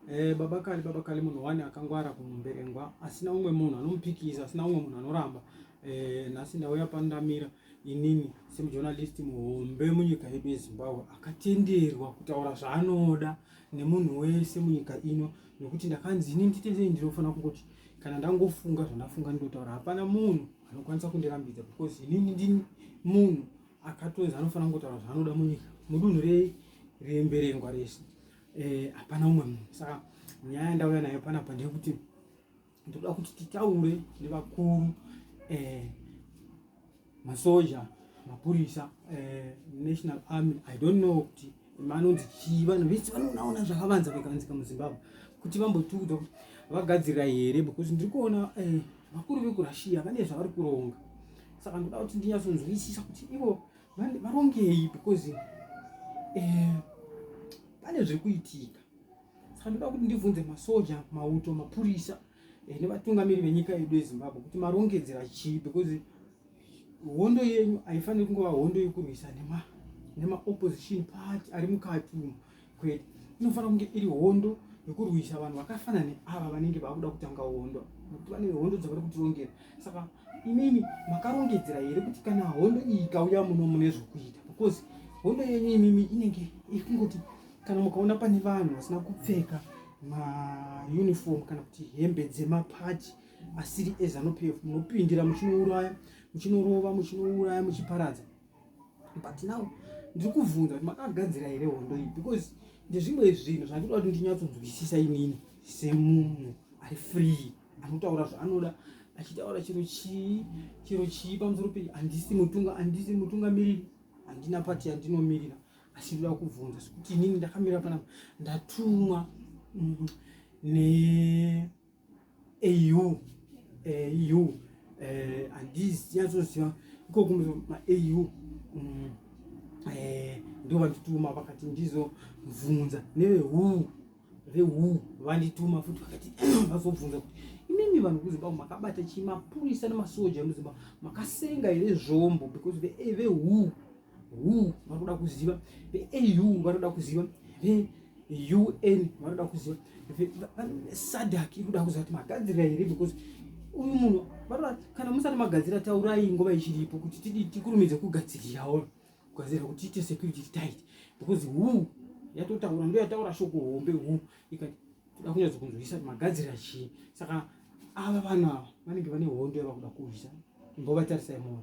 Eh, baba kali baba kali munhu wani akangwara kumberengwa asina umwe munhu anomupikisa asina umwe munhu anoramba eh, nhasi ndauya pandamira inini semujournalist muhombe munyika yedu yezimbabwe akatenderwa kutaura zvaanoda nemunhu wese munyika ino nekuti ndakanzi ini nditendei ndinofanira kungoti kana ndangofunga zvandafunga ndinotaura hapana munhu anokwanisa kundirambidza because inini ndini munhu akatonzi anofanira kungotaura zvaanoda munyika mudunhu remberengwa rese eh, hapana umwe munhu saka nyaya yandauya nayo panapa ndeyekuti ndoda kuti titaure nevakuru eh, masoja mapurisa eh, national army i don't know kuti manonzi chii vanhu vese vanonaona zvakavanza vakavanzika muzimbabwe kuti vambotiudza kuti vagadzirira here because ndiri kuona eh, vakuru vekurussia vane zvavari kuronga saka ndoda kuti ndinyatsonzwisisa kuti ivo varongei because eh, pane zviri kuitika saka ndoda kuti ndibvunze masoja mauto mapurisa eh, nevatungamiri venyika yedu yezimbabwe kuti marongedzera chii because hondo yenyu haifaniri kungova hondo yekurwisa nema nemaopposition party ari mukati umu kwete inofanira kunge iri hondo yekurwisa vanhu vakafana neava vanenge vakuda kutanga hondo nokuti vane hondo dzavari kutirongera saka imimi makarongedzera here kuti kana hondo iyi ikauya muno mune zvokuita because hondo yenyu imimi inenge ikungoti Kana mukaona pane vanhu vasina kupfeka mauniform kana kuti hembe dzemapachi asiri ezanup f munopindira muchinouraya muchinorova muchinouraya muchiparadza but now ndiri kubvunza kuti makagadzira here hondo iyi because ndezvimwe zvinhu zvandinoda kuti ndinyatsonzwisisa inini semunhu ari free anotaura zvaanoda achitaura chiro chii chiro chii pamusoro pei handisi mutunga handisi mutungamiriri handina pati yandinomirira asi ndoda kubvunza sekuti inini ndakamira panapa ndatumwa mm, neau au eh, handizi yatsoziva ikoko maau mm, eh, ndo vandituma vakati ndizobvunza nevehuu vehuu vandituma futi vakati vazobvunza kuti imimi vanhu kuzimbabwe makabata chii mapurisa nemasoja emuzimbabwe makasenga here zvombo because vehuu eh, who vanoda kuziva veau vanoda kuziva veun vanoda kuziva sadak ikuda kuziva kuti magadzirira here because uyu munhu vanoda kana musati magadzira taurai nguva ichiripo kuti tidi tikurumidze kugadzirirawo kugadzirira kuti tiite security tight because who yatotaura ndo yataura shoko hombe who ikati toda kunyatso kunzwisisa kuti magadzirira chii saka ava vanhu ava vanenge vane hondo yavakuda kurwisa mbovatarisai moyo